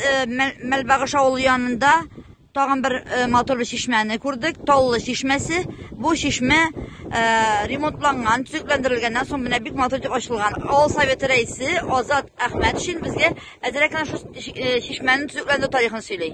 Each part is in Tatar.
Э, Мәлбагыш авылы янында тагын бер э, матур бер чишмәне күрдек. Таллы чишмәсе. Бу чишмә э, ремонтланган, төзекләндерелгәннән соң менә бик матур итеп ачылган. Авыл советы рәисе Азат Әхмәт өчен безгә әзрәк кенә шул чишмәнең төзекләндерү тарихын сөйли.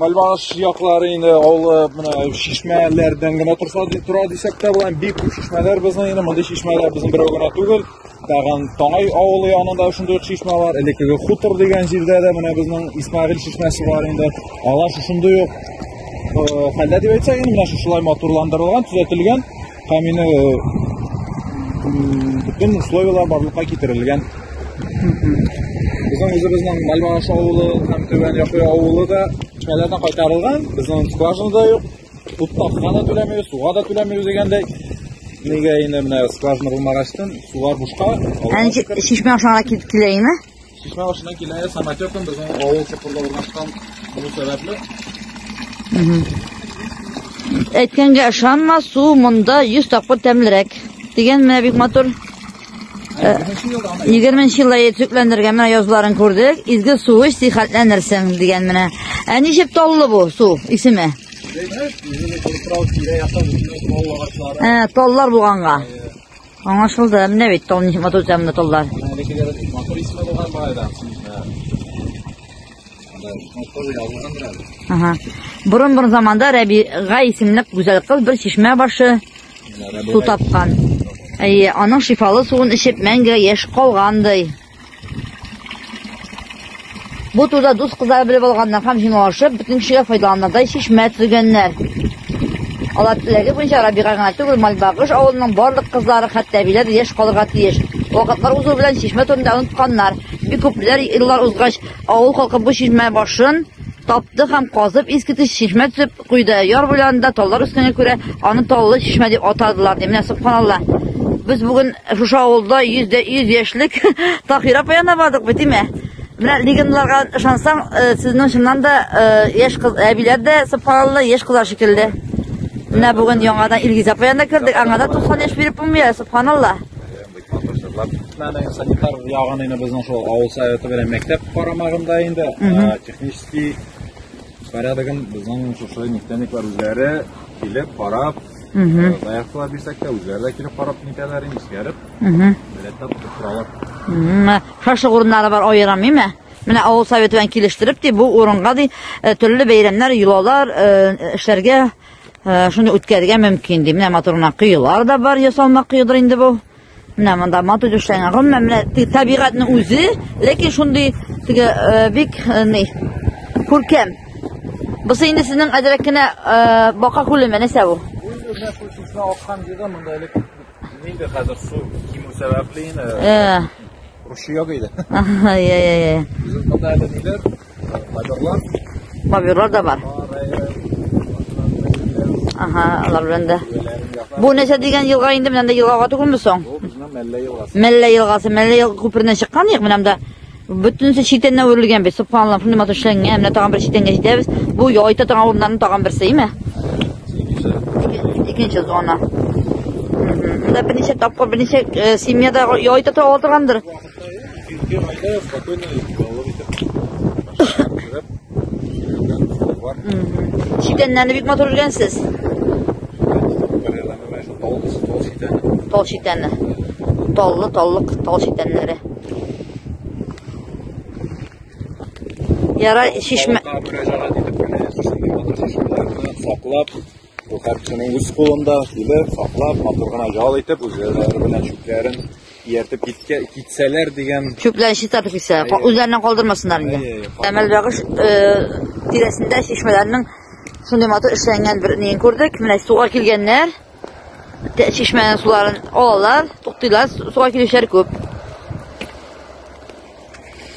Мальбаш яклары инде олы менә шишмәләрдән генә торса тора дисәк тә була. Бик күп шишмәләр безнең инде мондый шишмәләр безнең берәү генә түгел. Тагын Таңай авылы янында шундый ук шишмә бар. Элеккеге хутор дигән җирдә дә менә безнең Исмагил шишмәсе бар инде. Алар шушындый ук хәлдә дип әйтсәк, инде менә шушылай матурландырылган, төзәтелгән. Һәм инде бөтен условияләр барлыкка китерелгән. Безнең үзебезнең Мальмаш авылы һәм Түбән Якы авылы да чәләрдән кайтарылган. Безнең скважина да юк. Туттакка да түләмибез, суга да түләмибез дигәндәй. Нигә инде менә скважина булмагачтан сулар бушка. Әнҗе шишмә ашарга килеп килә инде. Чишмә башына килә самотеком безнең авыл сыпырда урнашкан бу сәбәпле. Әйткәнгә ышанма, су монда 100 тапкыр тәмлерәк. Дигән менә бик матур. 20 елда төпләндергән менә язларын күрдек. Изге су эч, сихәтләнерсең дигән менә. Ә ничек таллы бу су исеме? Ә, таллар булганга. Аңлашылды. Менә бит тол ничек матур итә монда толлар. Әлегеләр матур исеме булган баайда. Ага. Борын борын заманда Рәбига исемле гүзәл кыз бер чишмә башы су тапкан. Әйе, аның шифалы суын эчеп мәңге яшь калгандай. Бу турыда дус кызлары белеп алганнар һәм җиңалашып, бөтен кешегә файдаланырдай чишмә төзегәннәр. Алар теләге буенча Рабига гына түгел, Мальбагыш авылының барлык кызлары, хәтта әбиләр дә яшь калырга тиеш. Вакытлар узу белән чишмә турында онытканнар. Бик күпләр еллар узгач, авыл халкы бу чишмә башын тапты һәм казып, искиткеч чишмә төзеп, Куйды. Яр буйларында таллар үскәнгә күрә, аны Таллы чишмә дип атадылар, ди. Менә субханалла. Без бүген шушы авылда 100 дә 100 яшьлек Таһир апа янына бардык бит, димә. Менә легендларга ышансаң, э, сезнең чыннан да э, яшь кыз әбиләр дә субханалла яшь кызлар шикелле. Менә бүген яңадан Илгиз апа янына кердек. Аңа да 90 яшь биреп булмый, субханалла. Мәдәни санитар ягын инде безнең шул авыл советы белән мәктәп карамагында инде технический Порядыгын безнең шушы нефтяниклар үзләре килеп, карап, заявкалар бирсәк тә, үзләре дә килеп карап нитәләр, искәреп, билеттап тотып торалар. Шашлык урыннары бар аерым, миме? Менә авыл советы белән килештереп, ди, бу урынга ди, э, төрле бәйрәмнәр, йолалар э, эшләргә э, шуны үткәрергә мөмкин, ди. Менә матур гына да бар, ясалма кыюдыр инде бу. Менә монда матур эшләнгән. Гомумән менә табигатьнең үзе, ләкин шундый теге э, бик э, ни күркәм. Бусы инде сезнең әзрәк кенә э, бака күлеме нәрсә бу? Үзенә күчүсенә аккан җирдә монда элек инде хәзер су кимү сәбәпле инде. Рушия гыйде. Ага, я я я. Үзен монда әле ниләр Боберлар. Боберлар да бар. Ага, алар белән дә. Бу нәрсә дигән елга инде менә елгага түгелме соң? Бу безнең Мәллә елгасы. Мәллә елгасы, Мәллә елга күпереннән чыккан ник менә монда. Бөтенесе читеннән үрелгән бит. Субханаллаһ, шундый матур эшләнгән. Менә тагын бер читенгә җитәбез. Бу яйта торган урыннарның тагын берсе, име? Икенче зона. Монда берничә тапкыр, берничә э, семьяда яйта торган Читәннәрне бик матур үлгәнсез. Тал читәнне. Таллы, таллык, тал читәннәре. Яра шишмә. Саклап, Бу картины үз кулында килеп, саклап, матур гына ял итеп, үзләре белән чүпләрен ияртеп киткә китсәләр дигән. Чүпләрен чистартып китсә, үзләреннән калдырмасыннар инде. Әмәл бәгыш э, тирәсендә чишмәләрнең шундый матур эшләнгән бер нең күрдек. Менә суга килгәннәр. Чишмәнең суларын алалар, туктыйлар, суга килүчеләр күп.